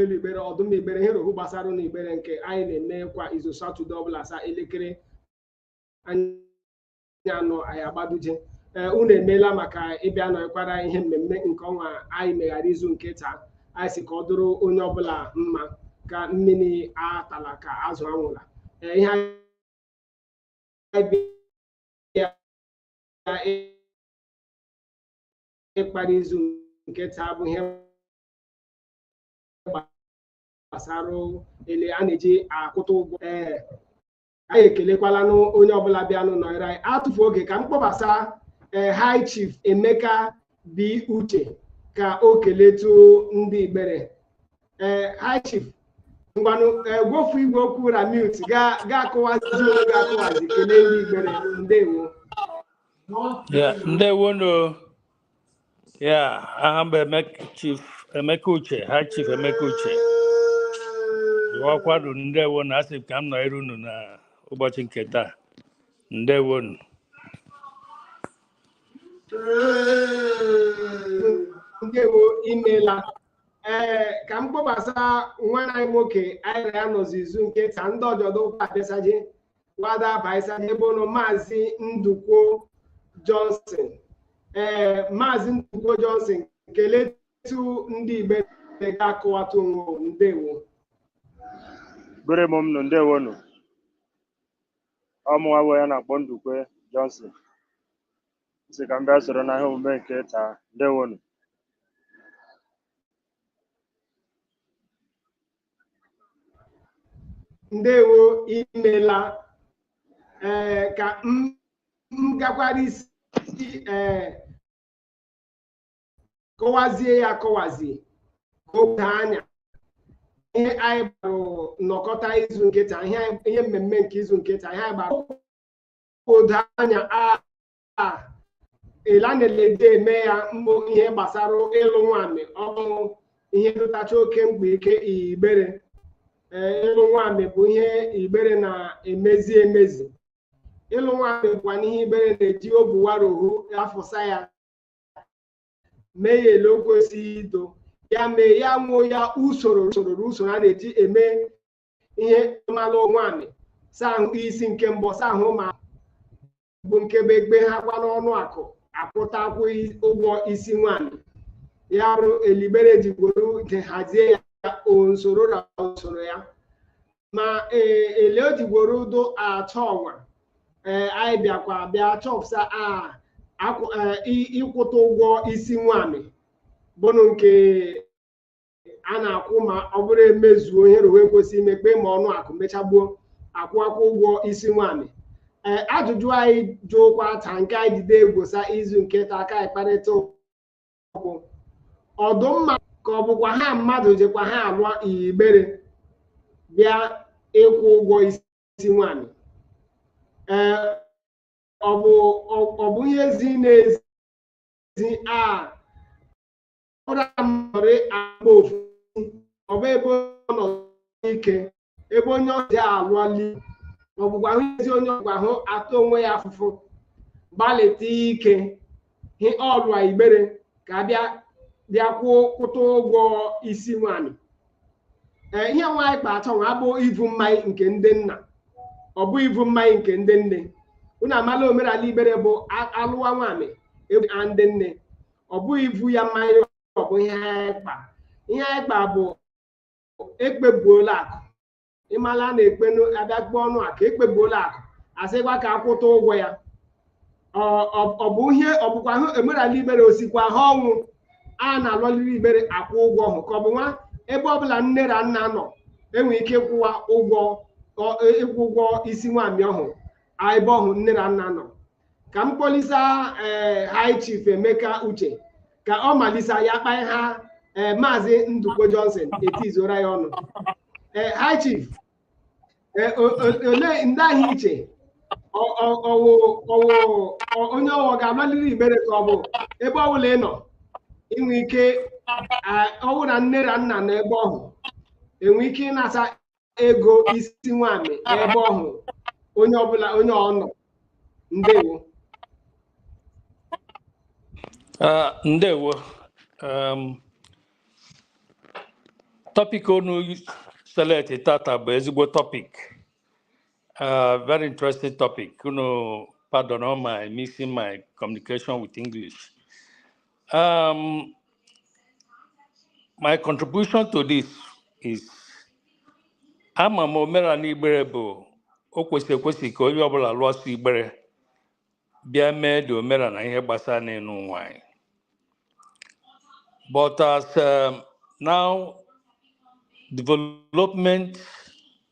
elu igbere ọdụm igbere ihe rohu gbasara na igbere nke anyị na-eme kwa izu satọde ọbụla saa elekere anyị anọ anyị agbaduje ee unu emeela maka ịbịa nọkwara ihe mmemme nke ọnwa anyị meghara izu nke taa anyị sị ka ọ dụrụ onye ọbụla mma ka mmini atala ka azụ anwụla ee ihe anyị bịa ịkpara izu nke taa bụ ihe gbasara ele a na-eji akwụta ụgwọ ee anyị ekelekwalanụ onye ọbụla bịanụ nọnyere anyị atụfu oge ka m kpọbasa ee eh, high chief emeka b uche ka o keletu ndị igbere ee eh, high chief ngwanụ eh, gwofu igwe okwu na mute gị akọwazi onwe gị akọwazi kelee ndị igbere ndewo ndewo nụ Yeah, aha m bụ Emeka Chief Emeka Uche, High Chief Emeka Uche. Ụwakwado ndewo nụ asị m ka m nọ iru unu na ụbọchị nke taa. Ndewo nụ. ndewo i meela ee ka m kpọbasa nwanne anyị nwoke anyị na ya nọzi izu nke taa ndị ọjọdụ ụka abịasaje nwada abaisa n'ebe ụlọ maazị ndukwe johnson ee maazị ndukwe johnson keletu ndị igbere gị akọwata onwe. ndewo Igbere m nụ ndewo nụ. Ọ mụnwa bụ onye a na-akpọ Ndukwe Johnson. Sị ka m bịa soro na ihe omume nke taa. Ndewo nụ. ndewo i meela ee eh, ka m gakwara isi ee eh, kọwazie ya akọwazie ka o doo anya ihe anyị gbara nnọkọta izu nke taa ihe mmemme nke izu nke taa ihe anyị gbara odo anya a ila na-elede eme ya mbụ ihe gbasara ịlụ nwamị ọ bụrụ ihe dụtacha oke mkpa ike igbere ịlụ nwamị bụ ihe igbere na-emezi emezi ịlụ nwamị bụkwanụ ihe igbere na-eji obuwarohu afụsa ya mee ya ele o kwesịrị ido ya mee ya nwoo ya usoro usoro usoro a na-eji eme ihe ma alụ nwamị saa ahụ isi nke mbụ saa ahụ ma bụ nke bụ egbe ha kwa n'ọnụ akụ akwụta akwụ ụgwọ isi nwamị ya bụrụ ele igbere ji gworo nke hazie ya usoro na usoro ya ma e, ele o ji gworo dụ achọ ọnwa ee anyị bịakwa bịa chọpụta a akwụ- eh, ị- ịkwụta ụgwọ isi nwamị bụnụ nke a na-akwụ ma ọ bụrụ emezuo ihe rụwa ekwesị ime kpee ma ọnụ akụ mechagbuo akwụ akwụ ụgwọ isi nwaanyị ee ajụjụ anyị jụkwa ta nke anyị jide egwosa izu nke taa ka anyị kparịta ụka ọdụmma ka ọ bụkwa ha mmadụ jekwa ha alụọ igbere bịa ịkwụ ụgwọ isi nwaanyị ee ọ bụ ọ bụ ihe zi na-ezi a ọbụla mmadụ agba ofu ọ bụ ebe ọ nọ ike ebe onye ọzọ alụọli ọ bụkwa hụ ezi onye ọ bụkwa hụ ata onwe ya afụfụ gbalịta ike hị ọlụa igbere ka abịa bịa kwụọ kwụta ụgwọ isi nwanyị ee ihe nwa anyị kpa achọ nwa abụ ivu mmanya nke ndị nna ọ bụ ivu mmanya nke ndị nne unu amala omenala igbere bụ a- alụwa nwanyị ee a ndị nne ọ bụghị ivu ya mmanya ọ bụ ihe anyị kpa ihe anyị kpa bụ ekpebuola akụ ịmala a na-ekpenụ abịa kpee ọnụ akụ ekpebuola akụ asịkwa ka akwụta ụgwọ ya Ọ- ọ ọ bụ ihe ọ bụkwa hụ omenala igbere osikwa ha ọnwụ a na-alọliri igbere akwụ ụgwọ ọhụ ka ọ bụ nwa ebe ọbụla nne na nna nọ enwe ike ịkwụwa ụgwọ ọ- ịkwụ ụgwọ isi nwanyị ọhụ ebe ọhụ nne na nna nọ ka m kpọlisa ee high chief emeka uche ka ọ malisa ya kpaa ha ee maazị ndukwe johnson etizora ya ọnụ ee high chief ee o- o- olee ndị ahụ iche ọ- ọ- ọwụ ọwụ ọ- onye ọwụ ga-amaliri igbere ka ọ bụ ebe ọbụla ị nọ inwe ike a- ọwụ na nne na nna nọ ebe ọhụ enwe ike ịnasa ego isi nwanyị ebe ọhụ onye ọbụla onye ọ nọ ndewo Ah, ndewo um, topic unu select tata bụ ezigbo topic uh, very interesting topic unu pardon me mixing my communication with english Um, my contribution to this is ama m omenala igbere bụ o kwesịrị ekwesị ka onye ọbụla lụọ sọ igbere bịa mee dị omenala na ihe gbasara n'ịlụ nwaanyị but as um, now development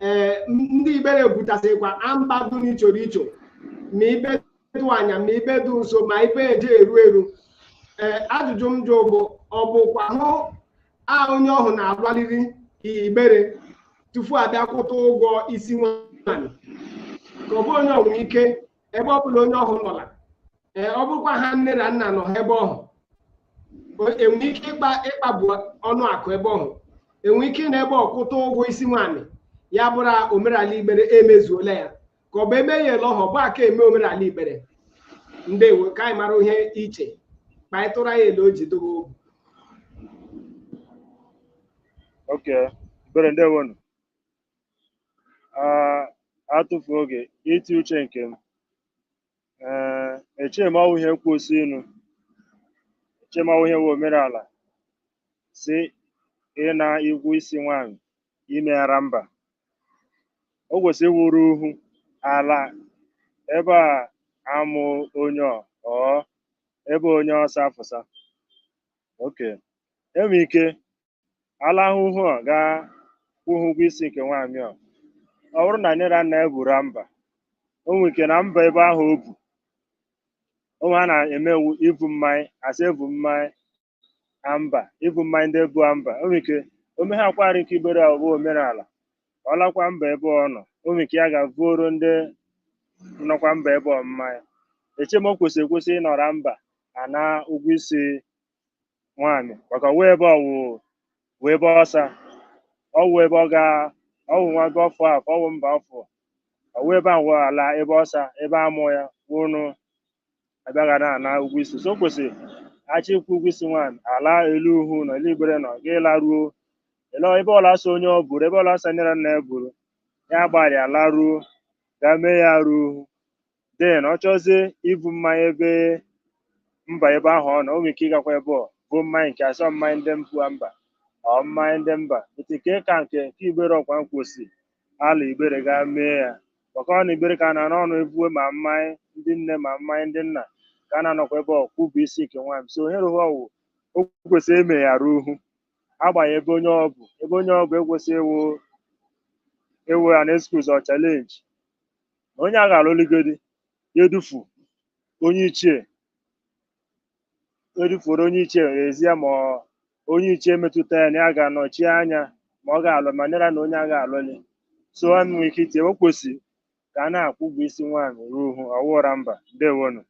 ee ndị igbere butasịkwa a mba dị n'ichoro icho ma ibe dụ anya ma ibe dị nso ma ibe eje eru eru ee ajụjụ m jụ bụ ọ bụkwa hụ a onye ọhụ na-agbaliri igbere tupu abịa kwụta ụgwọ isi nwaanyị ka ọ bụ onye ọnwụ ike ebe ọ bụla onye ọhụ nọla ee ọ bụrụkwa ha nne na nna nọ ha ebe ọhụ enwe ike ịkpa ịkpagbu ọnụ akụ ebe ọhụ enwe ike na ebe ọ kwụta ụgwọ isi nwaanyị ya bụrụ omerala igbere emezuola ya ka ọ bụ eme ya ele ọhụ ọ bụ aka eme omerala igbere ndewo ka anyị mara ihe iche ka anyị tụrụ anyị ele o ji dobe obu Okay. Igbere ndewonu. Ah, atụfu oge iti uche nke m Eh, eche m ọ wụghị ihe kwesị nụ eche m ọ wụ ihe wụ omerala sị ịna ụgwọ isi nwanyị ime ya ra mba o kwesịrị wụrụ uhu ala ebe a mụ onye ọ ọ ebe onye ọ sa afụsa okay enwe ike ala uhu a ga-akwụ ha ụgwọ isi nke nwaanyị a ọ bụrụ na nne na nna ya buru mba o nwere ike na mba ebe ahụ o bu o nwe ihe a na-eme wụ ibu mmanya a sị ebu mmanya mba ibu mmanya ndị bu mba o nwere ike o mehakwara nke igbere ya bụ omerala ọ lakwa mba ebe ọ nọ o nwere ike ya ga-vuoro ndị nọkwa mba ebe ọ mmanya eche m o kwesịghị ekwesị ịnọrọ mba ana ụgwọ isi nwaanyị maka ọwụ ebe ọwụ wụ ebe ọsa ọwụ ebe ọ ga ọwụ nwa gị ọfụ afọ ọwụ mba ọfụ ọwụ ebe ahụ ala ebe ọsa ebe amụ ya ụnụ abịa ana ụgwọ isi so o kwesịrị a chọọ ịkwụ ụgwọ isi nwaanyị ala eru uhu ala eru igbere nọ gị laruo ele ebe ọla so onye ọ buru ebe ọla so nne ra nna ya buru ya gbalịa laruo ga mee ya ra uhu then ọ chọzie ibu mmanya ebe mba ebe ahụ ọ nọ o nwere ike ịgakwa ebe ọ vuo mmanya nke asọ mmanya ndị mpụ mba ọ mmanya ndị mba ete ka ka nke nke igbere ọkwa kwesị ala igbere ga mee ya maka ọ na igbere ka a na-anọ ọnụ ebuwe ma mmanya ndị nne ma mmanya ndị nna ka a na-anọkwa ebe ọ kwụ ụgwọ isi nke nwaanyị so ohere ụwa wụ o kwesịrị eme ya ra uhu agbanyeghị ebe onye ọ bu ebe onye ọ bu ekwesịghị ewu ewu an excuse or challenge na onye a ga-alụligodi ya edufu onye ichie edufuoro onye ichie ezie ma ọ- onye ichie metụta ya na ya ga-anọchi anya ma ọ ga-alụ ma nara na onye a ga-alụli so ha nwere ike itinye o kwesịrị ka a na-akwụ ụgwọ isi nwaanyị ra uhu ọ wụghị ra mba ndewonu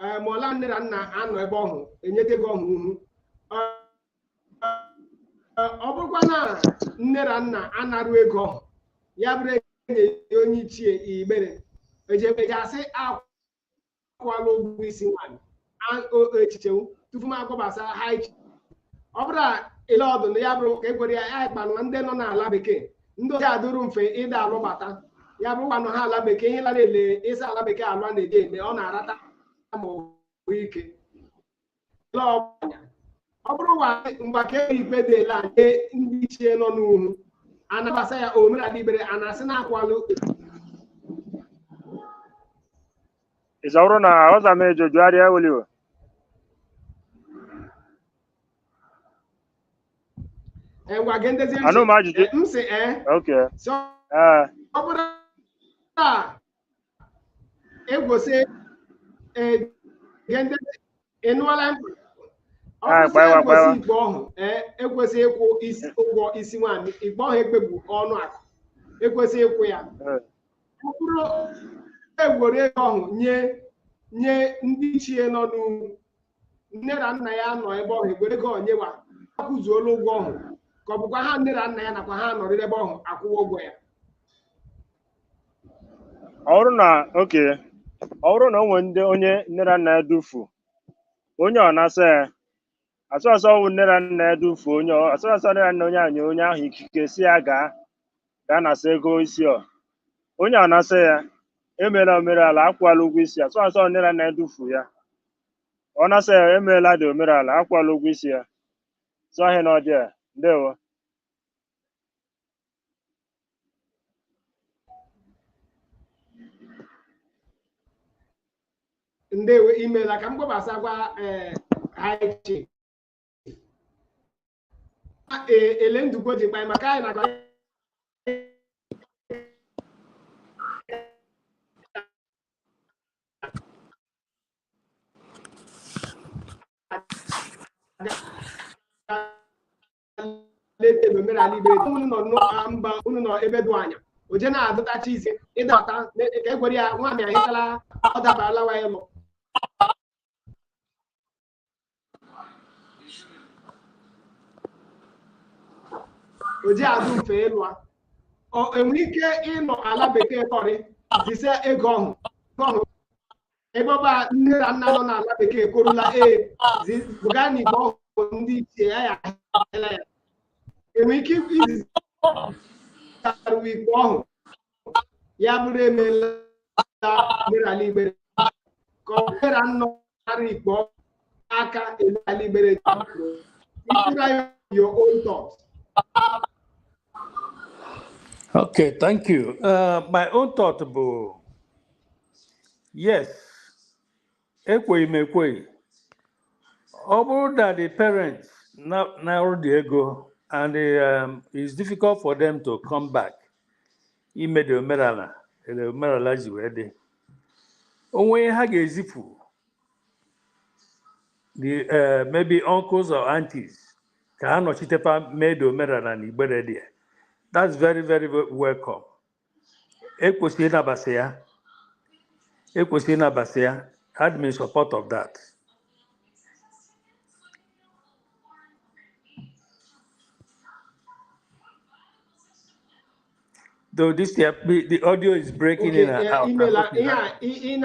ee ma ọla nne na nna anọ ebe ọhụ enyeta ego ọhụ uhu ọ bụrụkwa na nne na nna anarụ ego ọhụ ya bụrụ enye onye ichie igbere eji eji asị akwụ akwụkwala ụgwọ isi nwaanyị a- o- o- echiche m tupu m agbabasa ha iche ọ bụrụ ele ọ dụ na ya bụrụ ka e kwere ya ya kpanụ ndị nọ n'ala bekee ndị oji adụrụ mfe ịda alụbata ya bụrụkwanụ ha ala bekee ihe lara ele ịsa ala bekee alụ a na-eji eme ọ na-arata ma ike ọ bụrụ mgbe ka ikpe dị ele nye ndị ichie nọ n'uhu anabasa ya omenala igbere a na-asị na-akwalụ isauro na oza me jojo ari eweliwo ngwa gị ndezi anụ m ajụjụ m sị ee okay ọ bụrụ na egwosị egende ịnụọla mkpa ọ Ah, bụsị gbawa, egwosị gbawa. ikpe ọhụ ee ekwesị ịkwụ ụgwọ isi nwaanyị ikpe ọhụ ekpebu ọnụ akụ ekwesị ịkwụ ya Eh, ọ bụrụ egwere ego ọhụ nye nye ndị ichie nọ n'uhu nne na nna ya nọ ebe ọhụ egwere ego onyewa akwụzuola ụgwọ ọhụ ka ọ bụkwa ha nne na nna ya nakwa ha nọrịrị ebe ọhụ akwụwa ụgwọ ya ọ bụrụ na okay ọ bụrụ na o nwere ndị onye nne na nna ya dufu onye ọ nasa ya sọsọ ọ wụ nne na nna ya dufu onye ọ- sọsọ nne na nna onye ahụ nye onye ahụ ikike sị ya gaa gaa nasa ego isi ọ onye ọ nasa ya emeela omerala akwụala ụgwọ isi ya sọsọ nne na nna ya dufu ya ọ nasa ya emeela dị omerala akwụọla ụgwọ isi ya so ihe na ọ dị a ndewo ndewo imeela ka m gbabasa gwa ee anyị e- ele ndụgbo ji kpanye maka anyị na-agba leta ebe omenala igbere unu nọ n'ụka mba unu nọ ebe dị anya oje na-adụtacha isi ịdọta na- ka egwere ya nwaanyị ahịtala ọ dabarala wa ịlụ o ji adụ mfe ịlụa Ọ- enwere ike ịnọ ala bekee kọrị zise ego ọhụ ọhụ ebe ọba nne na nna nọ n'ala bekee korula ee zi- zụga na ikpe ọhụ ndị ichie ya ya ahịala ya enwere ike izi zitaru wa ikpe ọhụ ya bụrụ emeela omenala igbere ka ọ bịara nnọ ara ikpe aka omenala igbere ịtụra ya your own thoughts Okay, thank you. Uh, my own thought bụ yes, ekweghị m ekweghị ọ bụrụ na the parents na- na-arụ dị ego and um, it's difficult for them to come back ime the omenala the omenala ji wee dị o nwe ihe ha ga-ezipụ the uh, maybe uncles or aunties ka ha nọchitepa mee the omenala na igbere dị that's very very welcome ekwesịrị ịnabasị ya ekwesịrị ịnabasị ya I'm in support of that though this the, the audio is breaking okay, in and eh, out. Email, yeah, in, in, in,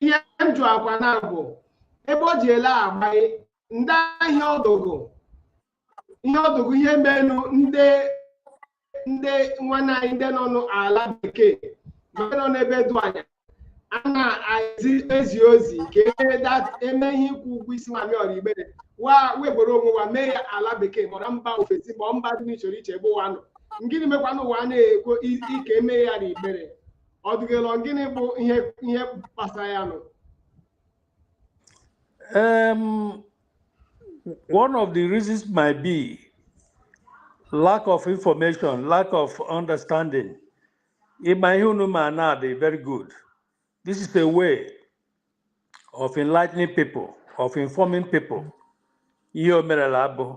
ihe m jụakwa na bụ ebe o ji ele agbaghị ndị ahịa ọdụgụ ihe ọdụgụ ihe menụ ndị ndị nwanne anyị ndị nọ n'ala bekee ma ndị nọ n'ebe dụ anya a na-ezi ezi ozi ka eme dat eme ihe ịkwụ ụgwọ isi nwamị ọrọ igbere wa weburu onwe wa mee ya ala bekee mọrọ mba ofesi ma ọ mba dị n'iche iche ebe wa nọ gịnị mekwanụ wa na-ekwo i- i- ka eme ya na igbere ọ dịgịlọ gịnị bụ ihe ihe kpasara ya nụ Um, one of the reasons might be lack of information, lack of understanding. Ị ma ihe unu mena, dị very good. This is a way of enlightening people, of informing people. Ihe o merela abụ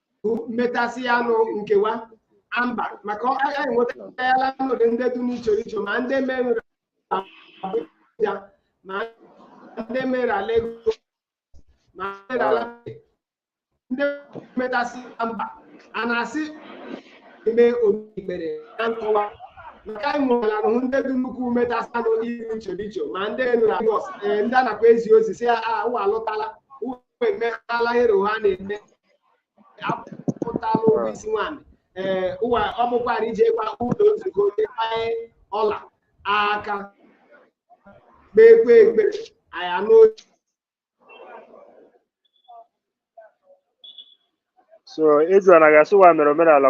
bụ metasịa nụ nke wa mba maka ọ- anyị enwetala ọnọdụ ndị dị n'iche iche ma ndị mere Abuja ma ndị mere Lagos ma ndị mere ala ndị metasị na mba a na-asị ime igbere na nkọwa maka anyị nwere ahụ ndị dị nnukwu metasịa n'iche iche ma ndị nụrụ Lagos ee, ndị a nakwa ezi ozi si ya wa alụtala wa emeghara ihe ọha na-eme akwụtala ụgwọ isi nwaanyị ee ụwa ọ bụkwara ijekwa ụlọ nzukọ onye gbanye ọla aka kpekwe ekpere anyị anụ so ịjụ na a ga-asị ụwa mere omerala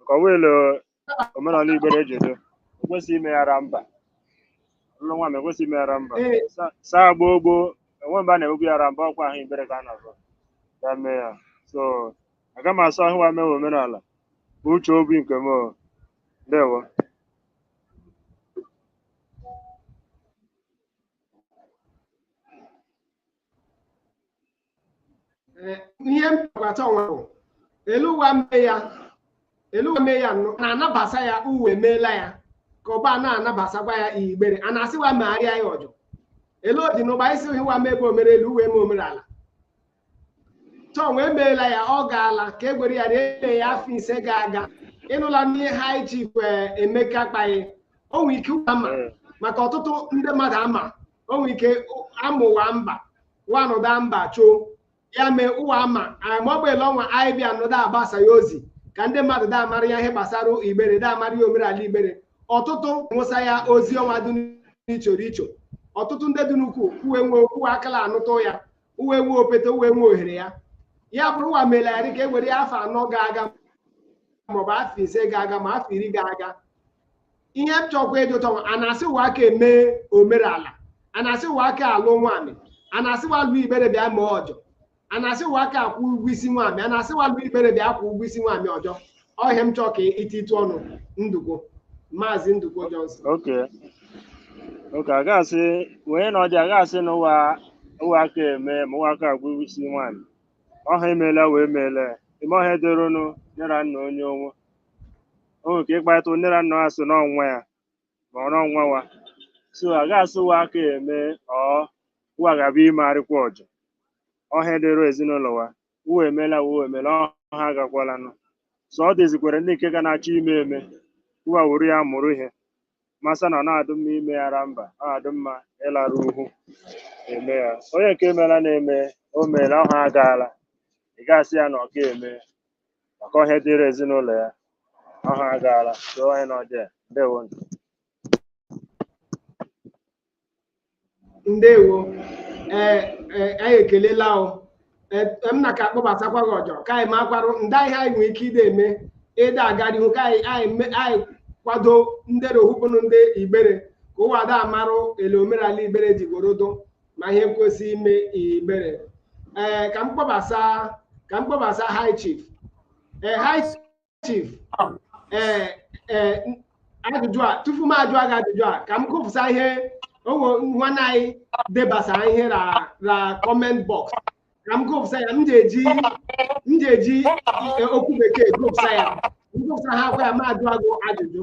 nke ọwa ele omerala igbere eji edo ekwesịghị ime ya ra mba ụlọ nwa m ekwesịghị ime ya ra mba Ee. Sa- saa gboo gboo enwe mgbe a na-emebu ya ra mba ọkwa ahụ igbere ka a na-azọ ya mee ya so aga m asụ ahụ wa mewe omerala bụ uche obi nke m o. ndewo Eh, ihe m chọkwata ọnwa bụ elu ụwa mee ya elu ụwa mee ya nụ na-anabasa ya uwe meela ya ka ọba na-anabasakwa ya igbere a na-asịwa megharịa ya ọjọ ele ọ dị n'ụba isi hiwa mebe omere elu uwe eme omere ala chọọ wee meela ya ọ gaala ka e gwere ya na ele ya afọ ise ga-aga ịnụla n'ihe High Chief Emeka kpaghị o nwere ike ụwa ama maka ọtụtụ ndị mmadụ ama o nwere ike amụ wa mba ụwa anọdụ mba choo ya mee ụwa ama ma ọ bụ ele ọnwa anyị bịa anọdụ agbasa ya ozi ka ndị mmadụ da amara ya ihe gbasara igbere da amara ya omerala igbere ọtụtụ nwụsa ya ozi ọnwa dị n'ichoro icho ọtụtụ ndị dị n'ukwu uwe nwe uwe akala anụtụ ya uwe nwe opete uwe nwe ohere ya ya bụrụ ụwa mere ya dịka e were ya afọ anọ ga-aga maọbụ afọ ise ga-aga ma afọ iri ga-aga ihe m chọkwa ịjụta ọnwa a na-asị wa aka eme omerala a na-asị wa aka alụ nwaanyị a na-asị wa lụ igbere bịa mee ọjọ a na-asị wa aka akwụ ụgwọ isi nwaanyị a na-asị wa lụ igbere bịa akwụ ụgwọ isi nwaanyị ọjọ ọ ihe m chọọ ka i titụ ọnụ ndụkwo maazị ndụkwo Johnson okay okay a ga-asị wee na ọdị a ga-asị na ụwa ụwa aka eme ma ụwa aka akwụ ụgwọ isi nwaanyị ọha emeela wee meela ime ọ ihe dịrịnụ nne ra nna onye onwe o nwere ike ịkparịta nne ra nna ha so n'ọnwa ya ma ọ n'ọnwa wa so a ga-asị wa aka eme ụwa ga-abịa imegharịkwa ọjọ ọ ihe dịrị ezinụlọ wa uwe emeela uwe emeela ọha agakwalanụ so ọ dịzikwere ndị nke ka na-achọ ime eme uwa wuru ya mụrụ ihe masa na ọ na-adụ mma ime ya ra mba ọ na-adụ mma ịlarụ uhu eme ya onye nke meela na-eme o meela ọha agaala ị ga-asị ya na ọ ga-eme maka ọ ihe dịrị ezinụlọ ya ọha agaala so onye na ọjọọ ndewo nụ. ndewo ee ee, anyị ekelela o Ee, m na ka akpọbatakwa gị ọjọ ka anyị makwarụ ndị ihe anyị nwere ike ide eme ịda aga n'ihu ka anyị anyị me- anyị kwado ndị ra uhu bụnụ ndị igbere ka ụwa da amarụ ele omerala igbere ji gorodo ma ihe kwesị ime igbere ee ka m kpọbasa ka m kpọbasa high chief ee high chief ee ee ajụjụ a tupu m ajụọ gị ajụjụ a ka m gụpụsa ihe o nwe nwanne anyị debasara ihe na na comment box ka m gụpụsa ya m ga-eji m ga-eji okwu bekee gụpụsa ya m gụpụsa ha kwa ya m ajụọ gị ajụjụ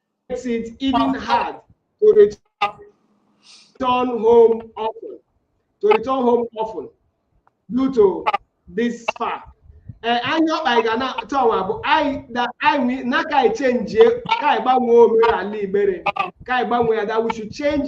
makes it even hard to return home often to return home often due to this fact eh, anyị ọkpa anyị ga na-achọ ọnwa bụ anyị na anyị na ka anyị chenjie ka anyị gbanwee omerala igbere ka anyị gbanwee ya that we should change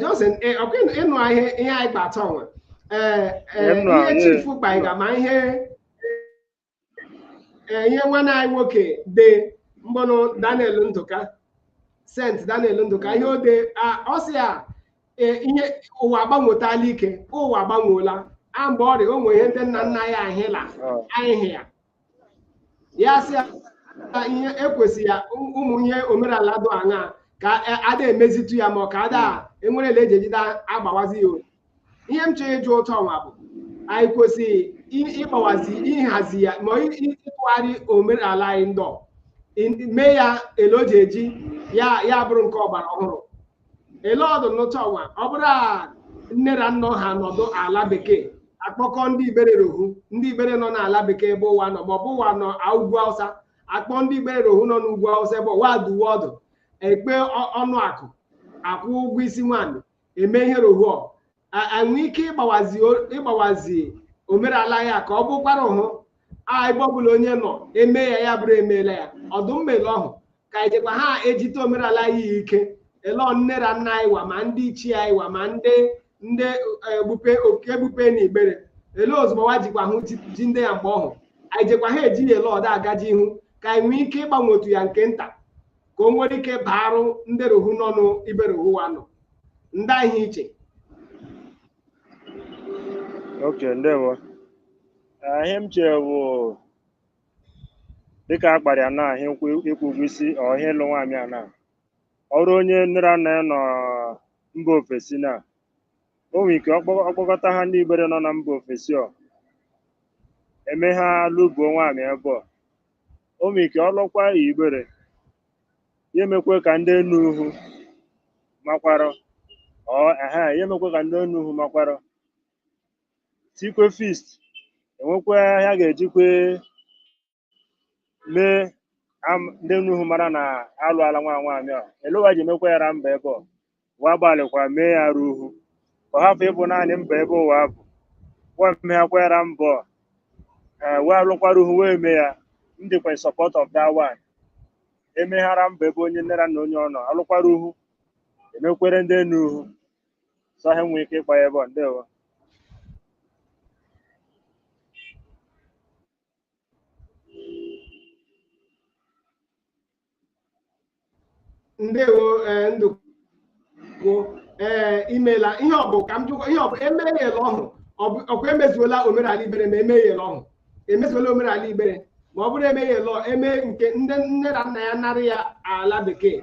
Johnson ọkwa ịnụ ihe ihe anyị kpa atọ nwa ihe chifu kpaịga ma ihe ihe nwanne anyị nwoke de bụnụ Daniel Ndụka Saint Daniel Ndụka ihe o de ọ sị ya ihe ụwa agbanwetala ike ụwa agbanweela a mgbe ọrị o nwere ihe ndị nna nna ya ahịla ahịhị ya ya sị ya na ihe e kwesị ya ụm- ụmụ ihe omerala dụ aṅa ka a- ada emezitu ya ma ọ ka ada enwere ele eji eji da agbawazi ya olu. ihe m chọrọ ịjụ ụtọ nwa bụ anyị kwesịrị ị- ịgbawazi ịhazi ya ma ị- ị- ịtụgharị omerala anyị ndọ ị- mee ya ele o ji eji ya ya bụrụ nke ọgbara ọhụrụ ele ọ dụ n'ụtọ nwa ọ bụrụ a nne ra nna ha nọdụ ala bekee a kpọkọ ndị igbere rohu ndị igbere nọ n'ala bekee ebe ọ wa nọ maọbụ wa nọ a- ugwu awụsa akpọ ndị igbere rohu nọ n'ugwu awụsa ebe ọ wa duwe ọdụ ekpe ọ- ọnụ akụ akwụ ụgwọ isi nwaanyị eme ihe rohu ọ enwe ike ịgbawazi ịgbawazi omerala ya ka ọ bụkwara hụ ebe ọbụla onye nọ eme ya ya bụrụ emeela ya ọ dụ mma ele ọhụ ka anyị jekwa ha ejite omerala ya ike ele nne ra nna anyị wa ma ndị ichie anyị wa ma ndị ndị egbupe oke egbupe na igbere ele ozugbo wa jikwa hụ jide ya mgbe ọhụ anyị jekwa ha eji ya ele ọ da agaji ihu ka anyị nwee ike ịgbanwetu ya nke nta ka o nwere ike baarụ ndị ruhu nọ n'ibe ruhu wa nọ ndị iche iche ok ndewo Eh, ihe m chere bụ dịka a kpara ya na ihe nkwụ ịkwụ ụgwọ isi ọ ihe ịlụ nwaanyị a na ọrụ onye nne ra nna ya nọ mba ofesi na o nwere ike ọkpọ- ọkpọkọta ha ndị igbere nọ na mba ofesi ọ eme ha lụbuo nwaanyị ebe ọ O nwere ike ọ lụọkwa ya igbere ya emekwe ka ndị enu uhu makwara ọ ehe ya emekwe ka ndị enu uhu makwara tikwe feast e nwekwa ihe a ga-ejikwe mee am- ndị enu uhu mara na alụala nwa nwaanyị a ele wa ji emekwa ya ra mba ebe ọ wa gbalịkwa mee ya ruhu ka ọ hapụ ịbụ naanị mba ebe ụwa bụ wa meakwara mbọ ee wee alụkwara uhu wee mee ya m dịkwa in support of that one emeghara mba ebe onye nne ra nna onye ọ nọ alụkwara uhu emekwere ndị enu uhu so ha enwee ike ịkpa ya ebe ọ ndewo ndewo ee ndụkwo ee imela ihe ọ bụ ka m jụkwa ihe ọ bụ eme ya ele ọhụ ọ bụ- ọkwa emezuola omenala igbere ma eme ya ele ọhụ emezuola omenala igbere ma ọ bụrụ emeghela eme nke ndị nne ra nna ya narị ya ala bekee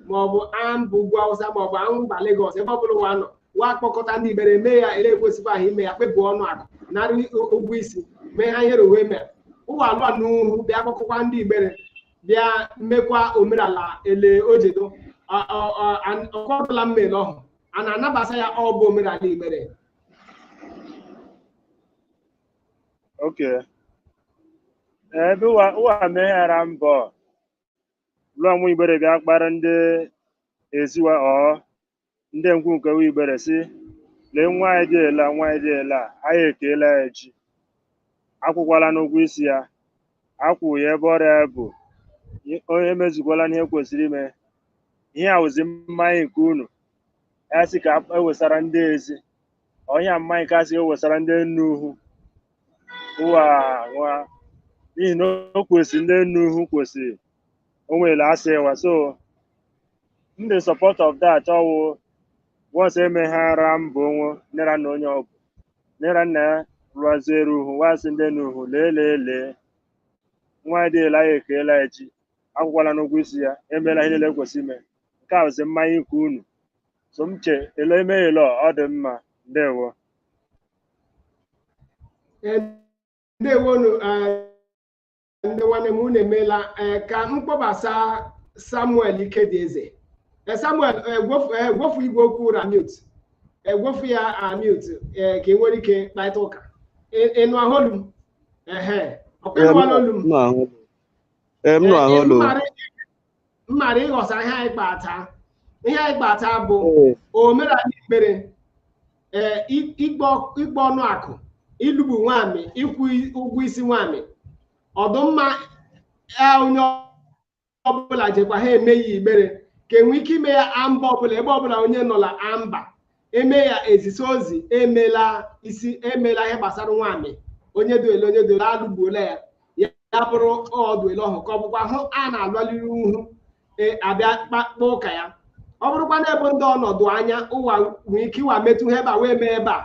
maọbụ an bụ ugwu awụsa maọbụ mba Lagos ebe ọbụla ụwa nọ wa kpọkọta ndị igbere mee ya ele ekwesịkwa ahụ ime ya kpepụ ọnụ akụ narị ụgwọ isi mee ha ihere uwe mere ụwa alụa n'uhu bịa kpọkọkwa ndị igbere bịa mekwa omenala ele ojedo ọkọtụla mmele ọhụ a na-anabasa ya ọ bụ omenala igbere Okay. Ebe ụwa ụwa meghara mbọ lụọ nwa igbere bịa kpara ndị ezi wa ọ ndị ikwu nke nwa igbere sị lee nwa anyị dị ele a, nwa anyị dị ele a anyị ekeela ya ji akwụkwala n'ụgwọ isi ya akwụ ya ebe ọrịa ya bụ onye emezukwala ihe kwesịrị ime ihe a wụzi mmanya nke unu ya sị ka ewesara ndị ezi ọhịa mmanya ka sị ewesara ndị enu uhu ụwa nwa n'ihi na o kwesịrị ndị enu uhu kwesịrị o nwere asị ịwa so m dị support of that ọwụ once emeghara mba onye nne ra nna onye ọbụ nne ra nna ya rụaziere uhu wa sị ndị enu uhu lee lee lee nwa dị ele a ekeela ya ji akwụkwala n'ụgwọ isi ya emeela ihe niile kwesị ime nke a bụzi mmanya ikwu unu so m che ele eme ele ọ dị mma ndewo ndewonu ndị nwanne m unu emeela ee ka m kpọbasa samuel ikedieze Ee, samuel ee, gwofu ee, gwofu igwe okwu ụ ra mute egwofu ya a mute ee ka ị nwere ike kparịta ụka Ị- ịnụ ahụ olu m ehe ọkwa ịnụwala olu m Ee, m nụ ahụ olu. mmara ịghọsa ihe anyị kpa taa ihe anyị kpa taa bụ omenala igbere ee ikpe ọnụ akụ ịlụgbu nwamị ịkwụ ụgwọ isi nwamị ọ dụ mma onye ọbụla jekwa ha eme ya igbere ka enwe ike ime ya a mba ọbụla ebe ọbụla onye nọla a mba eme ya ezisi ozi emela isi emela ihe gbasara nwamị onye dụ ele onye dụ ele alụgbuola ya ya bụrụ ọ dụ ele ọhụ ka ọ bụkwa hụ a na-alụliri uhu e, abịa kpakpa ụka ya ọ bụrụkwa na ebe ndị ọ nọ dụ anya ụwa nwee ike ịwa metụ ha ebe a wee mee ebe a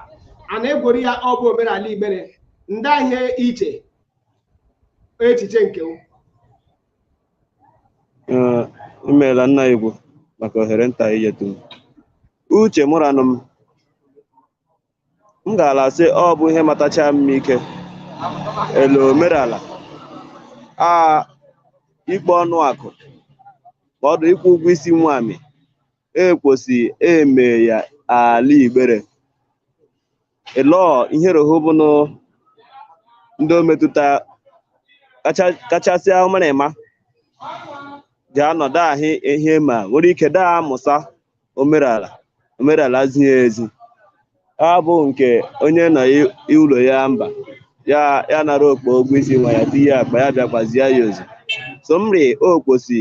a na-egwori ya ọ bụ omerala igbere ndịa ihe i che echiche nke Ee, i meela nna ukwu maka ohere nta i nyetụ m uche mụrụ anụ m m gaala sị ọ bụ ihe matacha m ike ele omerala a ikpe ọnụ akụ ma ọ dị ịkwụ ụgwọ isi nwamị ekwesị eme ya ala igbere Elọọ ihe roho bụ nụ ndị o metụta kacha kachasịa ụmụrịma ga-anọ daahị ihe ma nwere ike daa amụsa omerala omerala zie ezi abụ nke onye nọ i- ụlọ ya mba ya ya nara okpo ụgwọ isi nwa ya tinye akpa ya bịakwazie ya ozi so mri okposi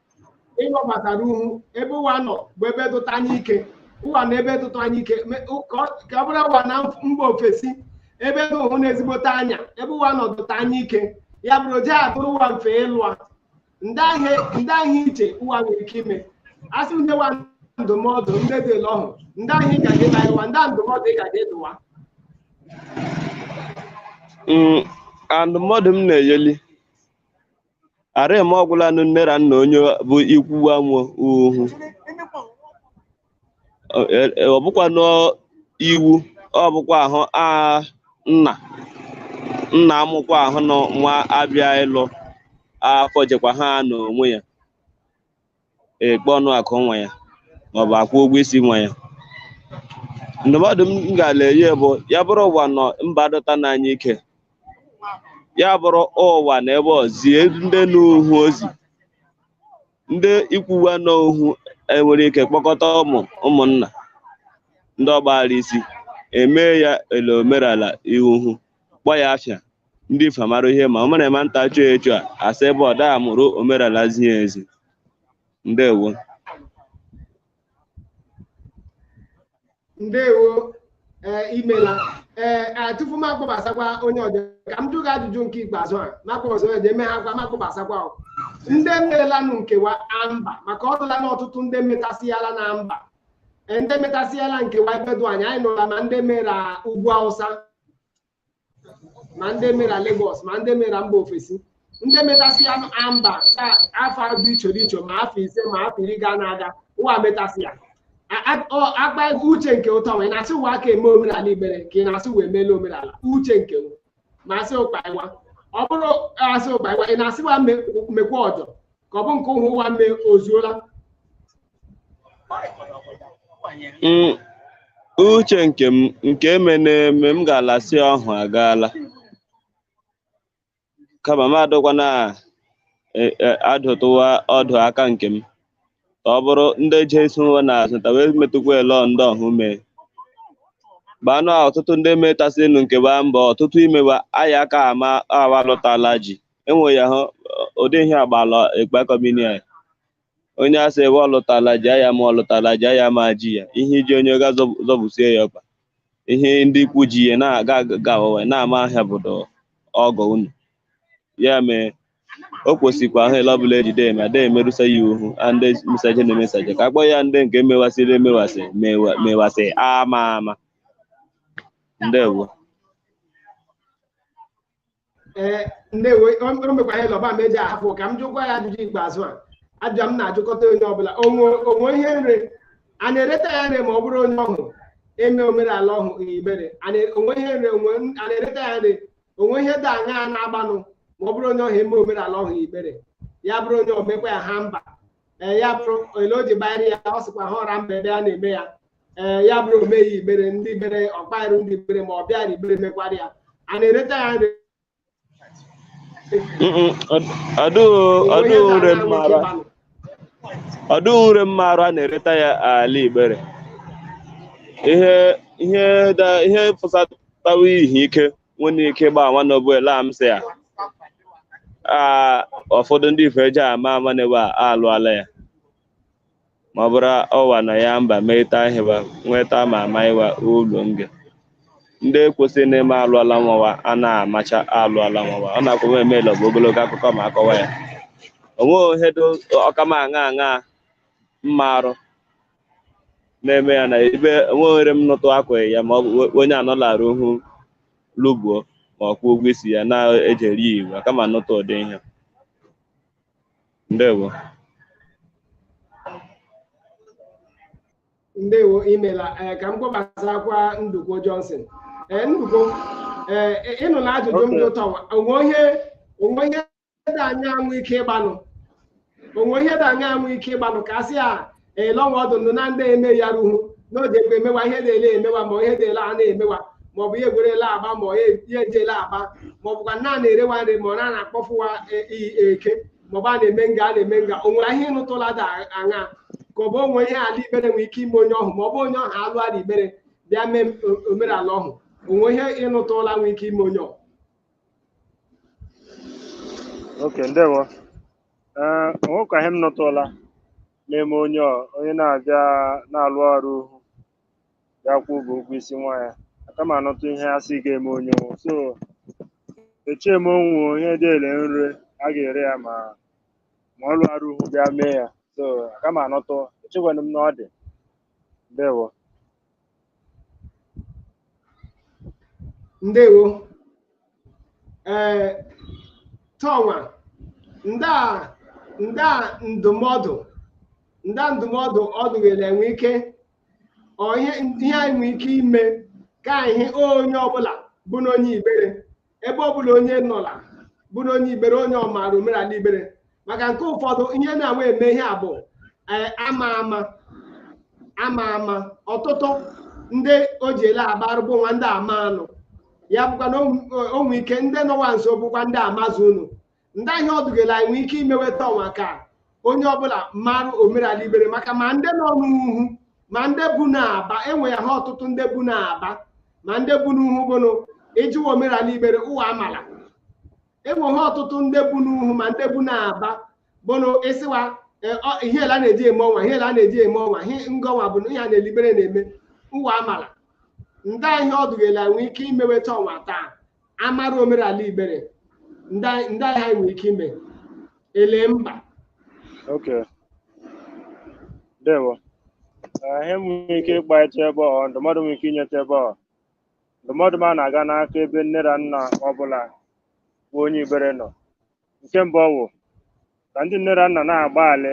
ịghọbatara uhu ebe ụwa nọ bụ ebe dụta anya ike ụwa na ebe dụta anya ike me- ụ- ka ọ- ka ọ bụrụ ụwa na mf- mba ofesi ebe dị ụhụ na ezigbote anya ebe ụwa nọ dụta anya ike ya bụrụ o je adụrụ ụwa mfe ịlụa ndịa ihe ndịa ihe i che ụwa nwere ike ime a sị nye wa ndụmọdụ ndị dị ele ọhụ ndịa ihe ị gaje ịgwa wa ndịa ndụmọdụ ị gaje ịdụ wa Mm, ndụmọdụ m na-enyeli ara eme ọgwụla nụ nne ra nna onye bụ ikwu wa nọ uhu Ọ- e- e- ọ bụkwa n'iwu ọ bụkwa ahụ a nna nna amụkwa ahụ na nwa abịa ịlụ afọ jekwa ha n'onwe ya ekpe ọnụ akụ nwa ya maọbụ akwụ ụgwọ isi nwa ya ndụmọdụ m ga-ala enye bụ ya bụrụ ụwa nọ mba dụta anya ike ya bụrụ ụwa na ebe zie ndị n'uhu ozi ndị ikwu wa nọ uhu e nwere ike kpọkọta ụmụ ụmụnna ndị ọ gbaghara isi emee ya ele omerala ihu kpọ ya afịa ndị ife mara ihe ma o mere ụmụ nta chọọ echu a asị ebe ọ daa mụrụ omerala zie ezi ndewo ndewo ee i meela ee a, tupu m akpọbasakwa onye ọbịa ka m jụ gị ajụjụ nke ikpeazụ a m akpọbasa onye ọbịa eme ha gwa m akpọbasakwa o. ndị merelanụ nkewa amba maka ọ dịla na ọtụtụ ndị metasịala na mba Ee, ndị metasịala nkewa ebe dụ anya anyị nụla ma ndị mere ugwu awụsa ma ndị mera Lagos ma ndị mera mba ofesi ndị metasị ya amba taa afọ dị iche dị iche ma afọ ise ma afọ iri ga na-aga ụwa metasị ya A- a- ọ- akpa ego uche nke ụtọ wee na-asị wa ka eme omenala Igbere ka ị na-asị wee meela omenala uche nke m ma asị ụkpa ịwa ọ bụrụ asị ụkpa ịwa ị na-asị wa me- mekwa ọjọ ka ọ bụ nke ụhụ ụwa mee ozuola Mm, uche nke m nke eme na-eme m ga-alasị ọhụ agaala kama m adụkwana e- e- adụtụ wa ọdụ aka nke m ka ọ bụrụ ndị je sonwe n'azụ ta wee metụkwa ele ndị ọhụ mee gbanụ a ọtụtụ ndị metasịnụ nke ba mbọ ọtụtụ imewa aya aka ama awa lụtala ji enwe ya hụ ụdị ihe agbala ekpekọmini anyị onye asị ebe ọ lụtala ji ya ma ọ lụtala ji ya ma ji ya ihe iji onye ga zọb- zọbusie ya ọkpa ihe ndị ikwu ji ya na-aga aga awawa na-ama ahịa bụdo ọgọ unu ya mee o kwesịkwa ahụ ele ọbụla ejide eme ada emerụsa ya ihu a ndị mesaje na emesaje ka akpọ ya ndị nke mewasịrị emewasị mewa- mewasị ama ama ndewo ee ndewo o mekwa ihe lọba ma eji ahapụ ka m jụkwa ya ajụjụ ikpeazụ a ajụjụ m na-ajụkọta onye ọbụla o nwe o nwe ihe nre a na-ereta ya nre ma ọ bụrụ onye ọhụ eme omenala ọhụ Igbere a na- o nwe ihe nre o nwe a na-ereta ya nre o nwe ihe dị anya a na-agbanụ ma ọ bụrụ onye ọhụ eme omenala ọhụ Igbere ya bụrụ onye o mekwa ya ha mba ee ya bụrụ ele o ji bayere ya ọ sịkwa ha ọra mba ebe a na-eme ya ee ya bụrụ o meghị Igbere ndị Igbere ọkpairu ndị Igbere ma ọ bịa na Igbere mekwara ya a na-ereta ya nre Mm-mm, ọ- ọdụghị ọdụghị nre mmarụ ọdụghị nre mmarụ a na-ereta ya ala Igbere ihe ihe da ihe fụsatawa ihe ike nwere ike gba nwanne ọ bụ ele a m sị ya a ụfọdụ ndị ife eji ama ama na ebe a alụala ya ma ọ bụrụ ọwa na ya mba meeta ahịwa nweta ma ama ịwa ụlọ nge ndị kwụsị na-eme alụala nwawa a na-amacha alụala nwawa ọ na-akwụ m emeela bụ ogologo akụkọ ma akọwa ya o nweghị ihe dị ọkama aṅa aṅa mmarụ na-eme ya na ebe enweghịrị m nụtụ akwaghị ya ma ọ bụ onye anọlara ohu lụbuo ma ọ kwụọ ụgwọ isi ya na-ejeri ya iwu kama nụtụ ụdị ihe ndewo ndewo imela ee ka m kpọbasakwa Ndukwo Johnson ee Ndukwo ee ị- ịnụ na ajụjụ m dị ụtọ o nwe ihe o nwe ihe dị anya anwụ ike ịgbanụ o nwe ihe dị anya anwụ ike ịgbanụ ka a sị ya elọnwa ọdụ ndụ na ndị eme ya ruhu n'oge ekwe emewa ihe na-ele emewa ma ihe na-ele a na-emewa ma ọ bụ ihe egwerele agba ma ihe ejele agba ma ọ bụkwa na a na-erewa nri ma ọ na na-akpọfụwa iyi eke ma ọ bụ a na-eme nga a na-eme nga o nwere ihe ịnụtụla da aṅa ka ọ bụ o nwe ihe ala Igbere nwere ike ime onye ọhụ ma ọ bụ onye ọhụ alụ ala Igbere bịa mee omenala ọhụ o nwe ihe ị nụtụla nwere ike ime onye ọhụ Okay, ndewo. Ee, o nwekwa ihe m nụtụla na-eme onye ọ- onye na-abịa na-alụara uhu bịa kwụ ụgwọ ụgwọ isi nwa ya aka m anụtụ ihe a sị ga-eme onye ọnwụ so echee m o nwe ihe dị ele nri a ga-ere ya ma ọ lụara uhu bịa mee ya so aka m anụtụ echekwana m na ọ dị ndewo ndewo ee tọnwa ndị a ndị a ndụmọdụ ndị a ndụmọdụ ọ dụghịla enwe ike ọ ihe ihe anyị nwee ike ime ka anyị hụ onye ọbụla bụnụ onye Igbere ebe ọ bụla onye nọla bụnụ onye Igbere onye ọ maara omenala Igbere maka nke ụfọdụ ihe na-awa eme ihe a bụ ee, ama ama ama ama ọtụtụ ndị o ji ele agbarụ bụ nwa ndị ama anụ ya bụkwa na o nwe ike ndị nọwa nso bụkwa ndị amazu unu ndị a ihe ọdụgela anyị nwee ike imeweta ọnwa ka onye ọbụla mara omenala Igbere maka ma ndị nọ n'uhu ma ndị bu n'Aba enwe ya ha ọtụtụ ndị bu n'Aba ma ndị bu n'uhu bụnụ ị jụ wa omenala Igbere ụwa amala enwe ha ọtụtụ ndị bu n'uhu ma ndị bu n'Aba bụnụ ị sị wa e, ọ- ihe ele a na-eji eme ọnwa ihe ele a na-eji eme ọnwa ihe ngọnwa bụ na ihe a na ele Igbere na-eme ụwa amala ndị a ihe ọdụgela nwee ike imeweta ọnwa taa amara omerala Igbere ndị a ihe anyị nwere ike ime ele mba Okay. Ndewo. Eh, Ihe m nwere ike ịkpaịta ebe ọ ndụmọdụ m nwere ike inyeta ebe ọ ndụmọdụ m a na-aga n'aka ebe nne na nna ọbụla bụ onye Igbere nọ nke mbụ ọ wụ ka ndị nne na nna na-agbalị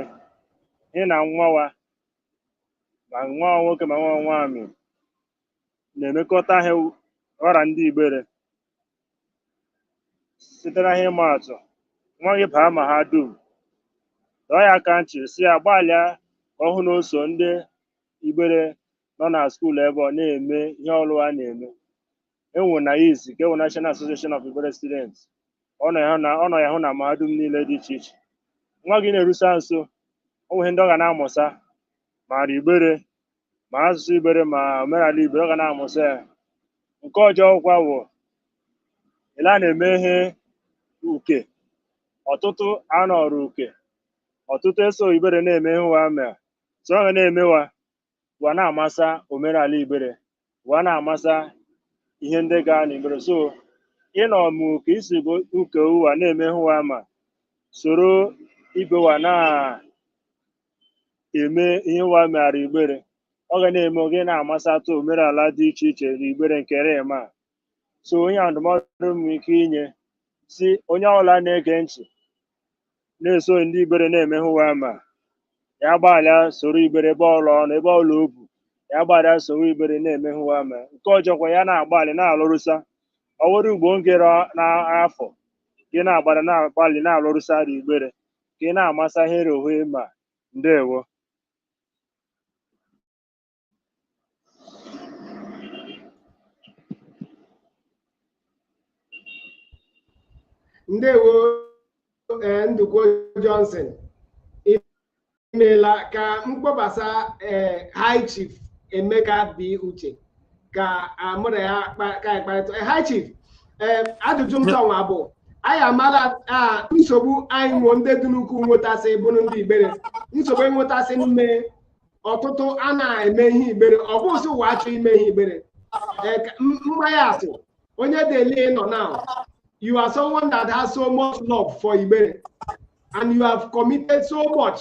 hụ na nwa wa ma nwa nwoke ma nwa nwaanyị na-emekọta ihe ọ ra ndị Igbere site na ihe ịma atụ nwa gị baa mahadum dọọ ya aka ntị sị ya gbalịa ka ọ hụ na o so ndị Igbere nọ na skuul ebe ọ na-eme ihe ọrụ a na-eme e nwe NAIS ka e nwe National Association of Igbere Students ọ nọ ya hụ na mahadum niile dị iche iche nwa gị na-erusa nso o nwere ndị ọ ga na-amụsa mara Igbere ma asụsụ igbere ma omenala igbere ọ ga na-amụsị ya nke ọjọ kwa wụ ele a na-eme ihe uke ọtụtụ anọrụ uke ọtụtụ eso igbere na-eme ihe ụwa ma so ọ ga na-emewa wa na-amasa omenala igbere wa na-amasa ihe ndị ga na igbere so ịnọ ma uke isi bụ uke ụwa na-eme ihe ụwa ma soro ibe wa na eme ihe wa meghara igbere ọ ga na-eme gị na-amasatụ omenala dị iche iche na igbere nke rem a so onye a ndụmọdụ m ike inye sị onye ọbụla na-ege ntị na-eso ndị igbere na-eme ihe wa ma ya gbalịa soro igbere ebe ọla ọ nọ ebe ọla o bu ya gbalịa soro igbere na-eme ihe wa ma nke ọjọkwa ya na-agbalị na-alụrụsa ọ were ugbo ngere n'afọ gị na-agbalị na-agbalị na-alụrụsara igbere ka ị na-amasa ihe rohu ịma ndewo ndewo ee ndukwo johnson imeela ka m kpọbasa ee high chief emeka b uche ka mụ na ya ka anyị kparịta high chief ee ajụjụ m tọnwa bụ anyị amala nsogbu anyị nwe ndị dị n'ukwu nwetasị bụrụ ndị igbere nsogbu enwetasị n'ime ọtụtụ a na-eme ihe igbere ọ bụ sị wa achọ ime ihe igbere mmanya asị onye dele nọ now you are someone that has so much love for igbere and you have committed so much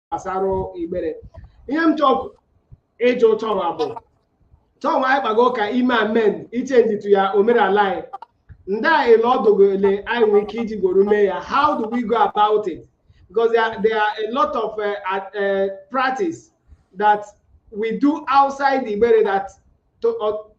gbasara igbere ihe m chọrọ ịjụ tọnwa bụ tọnwa anyị kpago ka ime amen ichenjitu ya omenala anyị ndị a ele ọdụgo ele anyị nwere ike iji gworo mee ya how do we go about it because there are, there are a lot of uh, uh, practice that we do outside the Igbere that to, uh,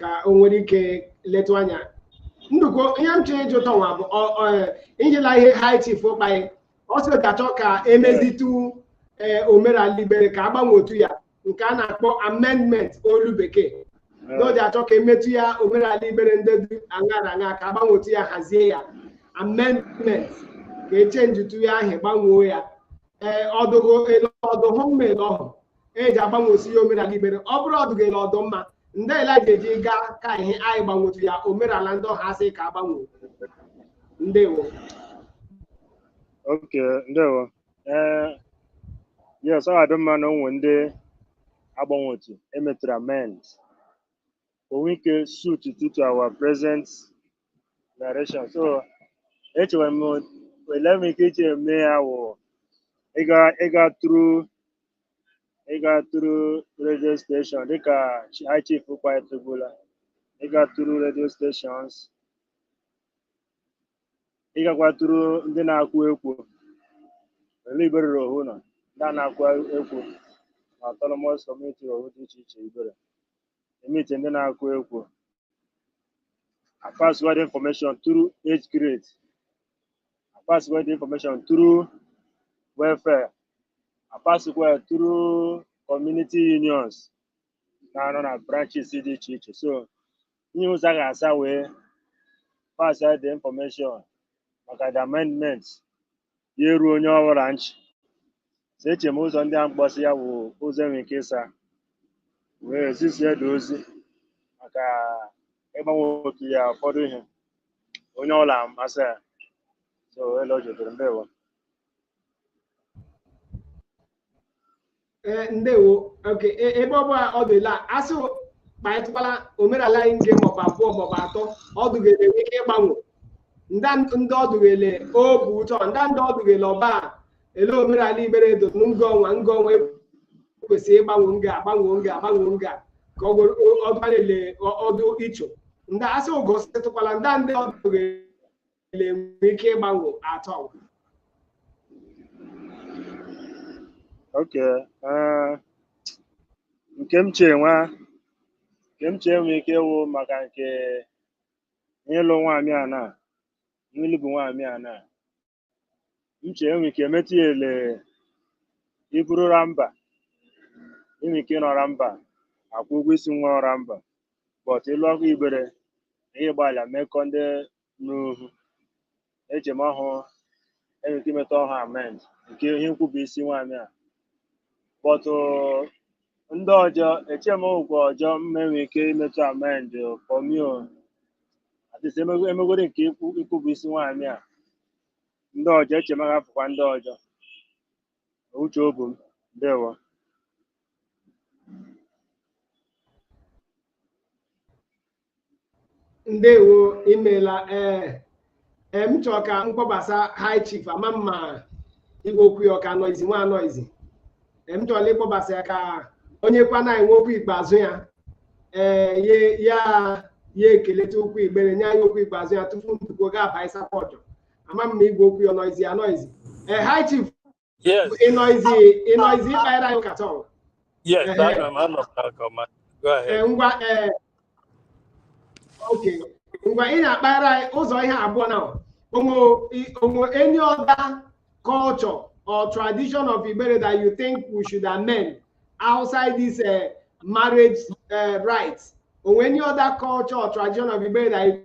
ka o nwere ike letụ anya ndukwo ihe m chọrọ ịjụ tọnwa bụ ọ- ọ- ijila ihe high chief kpa anyị ọ sị ga-achọ ka emezitu ee omenala igbere ka agbanwetu ya nke a na-akpọ amendment olu bekee n'oji achọ ka emetụ ya omenala igbere ndị dị aṅa na aṅa ka agbanwetu ya hazie ya amendment ka echenjitu ya ahụ gbanwoo ya ee ọdụgo ele ọdụ hụ mma ele ọhụ eji agbanwesi ya omenala igbere ọ bụrụ ọdụgo ele ọdụ mma ndị ele ga-eji gaa ka ihe anyị gbanwetu ya omenala ndị ọha asị ka agbanwe ndewo okay ndewo ee yes ọ ga-adị mma na o nwe ndị agbanwetu emetụrụ amend o nwe ike suit to to our present direction so echere m ele m ike iche eme ya wụ ịga ịga through ịga through radio station dịka chi- high chief kpaetụbula ịga through radio stations ịgakwa through ndị na-akụ ekwo ele Igbere ohu nọ ndị a na-akụ ekwo na autonomous community ohu dị iche iche Igbere e meetie ndị na-akụ ekwo a passkwa the information through age grade a passkwa the information through welfare a passkwa through community unions na-anọ na branches dị iche iche so ihe ụzọ a ga-asa wee passa the information maka the amendment ya eruo onye ọbụla nchị so eche m ụzọ ndị a m kpọsị ya wụ ụzọ enwere ike ịsa wee zisie ndị ozi maka ịgbanwe otu ya ụfọdụ ihe onye ọla masị ya so ele o jodoro ndewo ee ndewo okay e- ebe ọ bụ ọ dụ ele a sị kpaịtụkwala omenala anyị nge maọbụ abụọ maọbụ atọ ọ dụ gị ele e nwee ike ịgbanwe nda ndị ọ dụ gị ele o bụ ụtọ nda ndị ọ dụ gị ele ọba ele omenala Igbere edo m nga ọnwa nga ọnwa kwesịrị ịgbanwe nga agbanwe nga agbanwe nga ka ọ gwere ọ dụ gị ele ọ- ọ dụ icho ndị a sị ị gositụkwala ndị ndị ọ dụ gị ele e nwere ike ịgbanwe atọ okay eh, nke m chee nwa nke m chee nwee ike ịwụ maka nke ịlụ nwaanyị a na ịlụbu nwaanyị a na uche enwe ike metụ ya ele i buru ra mba enwe ike ịnọ ra mba akwụ ụgwọ isi nwa ọ ra mba but ịlụ ọkụ Igbere ihe gbalịa mekọ ndị n'uhu eche m ọhụụ enwe ike imetụ ọhụ amend nke ihe nkwu bụ isi nwaanyị a but Ndị ọjọ, eche m ụgwọ ọjọ mma enwe ike imetụ amend for me o adịsị emegodi nke ikwu ikwu bụ isi nwaanyị a ndị ọjọ eche m agafụkwa ndị ọjọ uche obu m ndewo ndewo imela ee ee m chọrọ ka m kpọbasa high chief ama m ma igwe okwu ya ọ ka noisy nwa noisy ee m chọrọ ịkpọbasa ya ka o nyekwana anyị nwa okwu ikpeazụ ya ee ye ya ya ekeleta okwu Igbere nye anyị okwu ikpeazụ ya tupu Nduko ga-aba ịsapọtụ ama m ma igwe okwu ya noisy ya noisy ee high chief Yes. Ị nọzi ị nọzi ịkpara anyị ụka tọọ. Yes, Ehe. anọ m anọ m n'aka ọma. Go ahead. Ee, ngwa ee okay ngwa ị ga-akpara anyị ụzọ ihe abụọ na o nwe i- o nwe any other culture or tradition of Igbere that you think we should amend outside this uh, marriage uh, rites o nwe any other culture or tradition of Igbere that you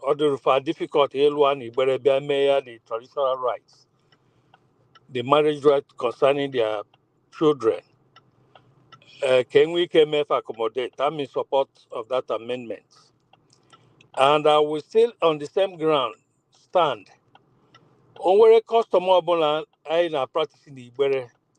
ọ dịrụ fa difficult ịlụa na igbere bịa mee ya the traditional rites the marriage rite concerning their children uh, ka e nwe ike mee fa accommodate I'm in support of that amendment and I will still on the same ground stand o nwere custom ọbụla anyị na-practice na igbere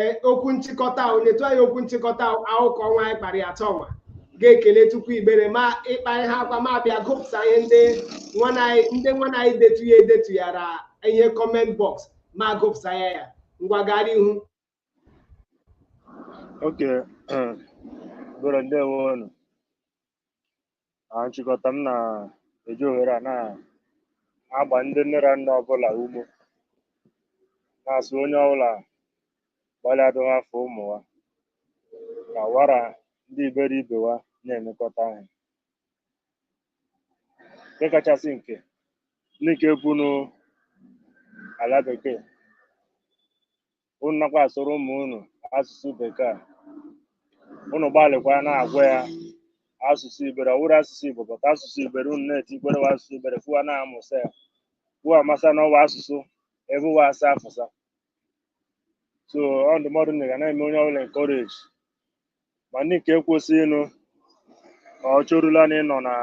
ee okwu nchịkọta ahụ nyetụ anyị okwu nchịkọta akụkọ ọnwa anyị kpara ya tọọnwa ga-ekeletụkwu igbere ma ịkpa ihe akwa ma bịa gụpụsa ihe ndị ndị nwanna anyị detu ya edetu ya ra ihe comment box ma gụpụsa ya ya ngwa gara ihu Okay. Igbere ndewo. Na nchịkọta m na-eji ohere a na-agba ndị nne na nna ọbụla ume na-asị onye ọbụla gbalịa dowe afọ ụmụ wa ka wa ra ndị igbere ibe wa na-emekọta ihe nke kachasị nke ndị nke bunu ala bekee unu nakwa asụrụ ụmụ unu asụsụ bekee a. unu gbalịkwa na-agwa ya asụsụ igbere ọ wụrụ asụsụ igbo but asụsụ igbere unu na-etikwere wa asụsụ igbere fụ wa na-amụsa ya fụ wa amasa na ọ wụ asụsụ ebe ụwa asa afụsa so ọ ndụmọdụ na ga na-eme onye ọbụla encourage ma ndị nke kwesịrịnụ ma ọ chọrụla na ịnọ na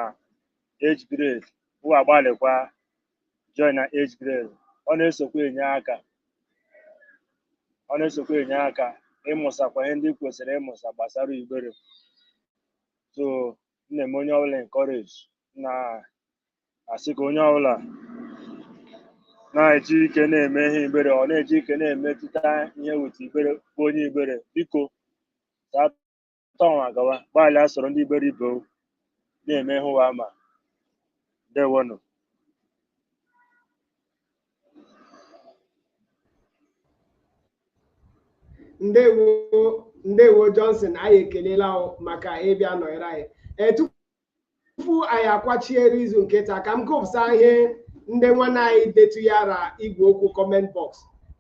age grade ụwa agbalịkwa join na age grade ọ na-esokwa enye aka ọ na-esokwa enye aka ịmụsakwa ihe ndị kwesịrị ịmụsa gbasara igbere so m na-eme onye ọbụla encourage na asị ka onye ọbụla na-eji ike na-eme ihe igbere ọ na-eji ike na-emetụta ihe weta igbere bụ onye igbere biko sa tọọnwa gawa gbalịa soro ndị igbere ibe o na-eme ihe ụwa ma ndewonụ ndewo ndewo johnson anyị ekelela o maka ịbịa nọnyere anyị ee tupu tupu anyị akwachiere izu nke taa ka m gụpụsa ihe ndị nwanne anyị detụyara igwe okwu comment box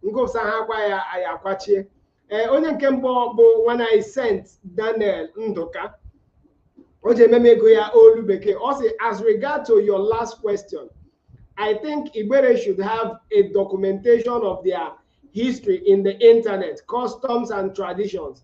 m gụpụsahakwa ya anyị akwachie ee onye nke mbụ bụ nwanne anyị Saint daniel ndụka o ji ememe ego ya olu bekee ọ sị as regard to your last question i think igbere should have a documentation of their history in the internet customs and traditions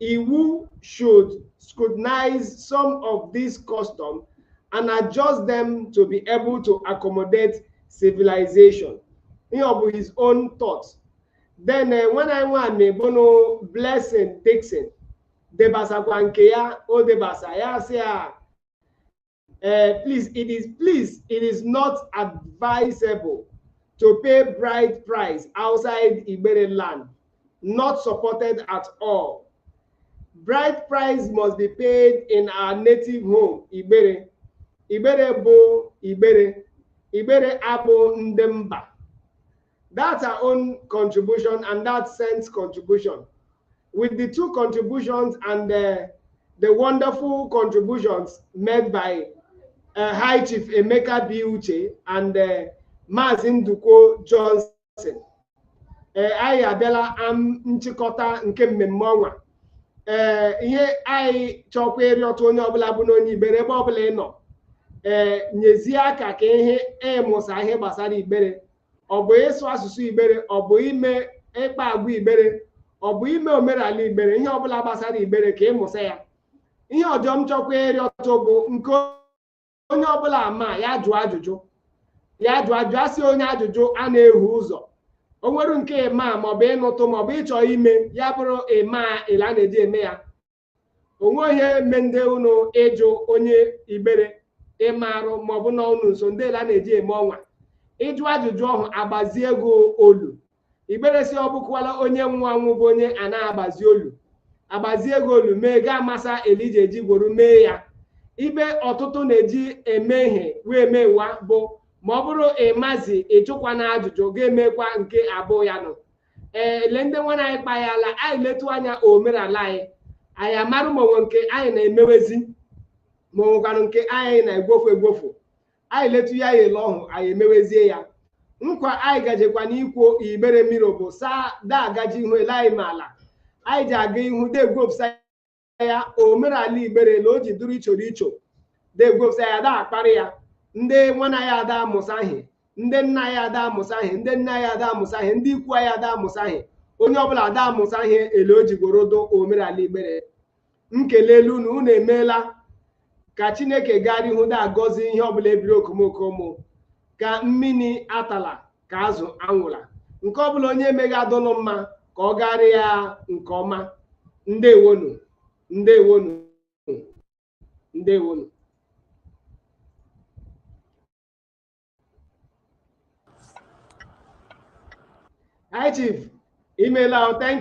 IWU should scrutinize some of these customs and adjust them to be able to accommodate civilization. Ihe ọ bụ his own thoughts. Then eh, nwanne anyị nwamị bụ nụ Blessing Dickson debasakwa nke ya o debasa ya sị ya uh, please, it is please, it is not advisable to pay bride price outside Ibere land, not supported at all. Bride price must be paid in our native home, Ibere. Ibere bụ Ibere. Ibere abụ ndị mba. That's her own contribution and that's Saint's contribution. With the two contributions and the, the wonderful contributions made by uh, High Chief Emeka B. Uche and uh, Mazi Ndukwo Johnson. Uh, anyị abịala na nchịkọta nke mmemme ọnwa ee ihe anyị chọkwa ịrịọtụ onye ọbụla bụ na onye igbere ebe ọbụla ị nọ ee nyezie aka ka ihe ịmụsa ihe gbasara igbere ọ bụ ịsụ asụsụ igbere ọ bụ ime ịkpa agwa igbere ọ bụ ime omenala igbere ihe ọbụla gbasara igbere ka ịmụsa ya ihe ọjọ m chọkwa ịrịọtụ bụ nke onye ọbụla ama ya jụọ ajụjụ ya jụọ ajụjụ a sị onye ajụjụ ana ehu ụzọ o nwere nke ịma maọbụ ịnụtụ maọbụ ịchọ ime ya bụrụ ịma ele a na-eji eme ya onwe ihe me ndị unu ịjụ onye igbere ịmarụ maọbụ nọ unu nso ndị ele a na-eji eme ọnwa ịjụ ajụjụ ọhụ agbazie gị olu igbere sị ọ bụkwala onye nwa nwụ bụ onye a na-agbazi olu agbazie gị olu mee gị amasa ele e ji eji gworo mee ya ibe ọtụtụ na-eji eme ihe wee mewa bụ ma ọ bụrụ ịmazi ịjụkwa na ajụjụ ga-emekwa nke abụọ ya nọ ee ele ndị nwanne anyị kpahala anyị letu anya omenala anyị anyị amarụ ma onwe nke anyị na-emewezi ma onwekwanụ nke anyị na-egwofu egwofu anyị letu ya anya ele ọhụ anyị emewezie ya nkwa anyị gajekwanụ ikwe igbere mmiri bụ saa da agaje ihu ele anyị ma ala anyị ji aga ihu degwopụsa ya omenala igbere ele o ji dụrụ ichoro icho degwopụsa ya da akparị ya ndị nwanne ya ada amụsaghị ndị nna ya ada amụsaghị ndị nna ya ada amụsaghị ndị ikwu ya ada amụsaghị onye ọbụla ada amụsaghị ele o ji gworo dụ omenala igbere m kelele unu unu emeela ka chineke gara ihu da-agọzi ihe ọbụla ebiri okomoko ụmụ ka mmiri atala ka azụ anwụla nke ọbụla onye mega dụnụ mma ka ọ gaara ya nke ọma ndewonu ndewonu ndewonu hi chief imela thank